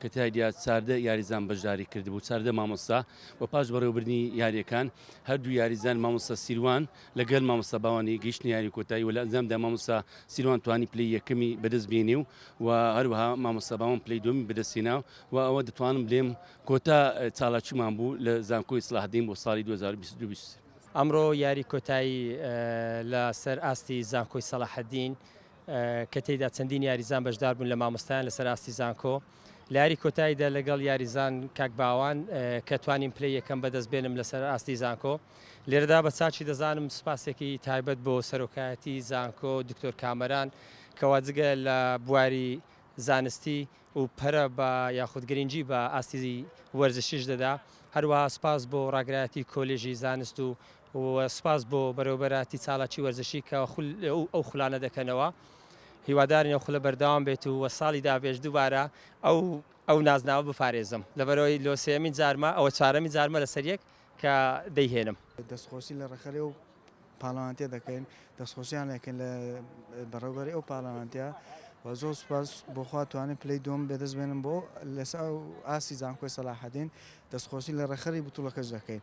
کە تیایدا چاردە یاریزان بەشداری کردبوو، چاردە مامۆستا، و پاش بەڕێوەبردنی یارییەکان، هەردوو یاریزان مامۆستا سیروان لەگەل مامۆستا باوانی گەیشتنە یاری کۆتایی و لە ئەنجامدا مامۆستا سیروان توانی پلەی یەکەمی بەدەست بێنێ و و هەروەها مامۆستا باوان پلەی دووەمی بەدەست هێنا و ئەوە دەتوانم بلێم کۆتا چالاکیمان بوو لە زانکۆی سلاحدین بۆ ساڵی دوو هەزار و بیست و دوو بیست و سێ. ئەمڕۆ یاری کۆتایی لە سەر ئاستی زانکۆی سەلاحەدین کە تێیدا چەندین یاریزان بەشدار بوون لە مامۆستایان لەسەر ئاستی زانکۆ لە یاری کۆتاییدا لەگەڵ یاریزان کاک باوان کە توانیم پلەی یەکەم بەدەست بێنم لەسەر ئاستی زانکۆ لێرەدا بە چاچی دەزانم سپاسێکی تایبەت بۆ سەرۆکایەتی زانکۆ دکتۆر کامەران کەوا جگە لە بواری زانستی و پەرە بە یاخود گرنگی بە ئاستی وەرزشیش دەدا هەروەها سپاس بۆ ڕاگرایەتی کۆلێژی زانست و و سپاس بۆ بەرێوەبەرایەتی چالاکی وەرزشی کە ئەو خولانە دەکەنەوە هیوادارین ئەو خولە بەردەوام بێت و وە ساڵی دابێش دووبارە ئەو ئەو نازناوە بپارێزم لەبەرەوەی لۆ سێمین جارمە ئەوە چارەمی جارمە لەسەر یەک کە دەیهێنم. دەستخۆشی لە ڕێکخەری ئەو پاڵەوانتە دەکەین دەستخۆشیان لەکەن لە بەڕێوبەری ئەو پاڵەوانتە و زۆر سپاس بۆخوا توانێت پلەی دوم بێدەست بێنم بۆ لەس ئاستی زانکۆی سەلاحەدین دەستخۆشی لە ڕێکخەری بتوڵەکەش دەکەین.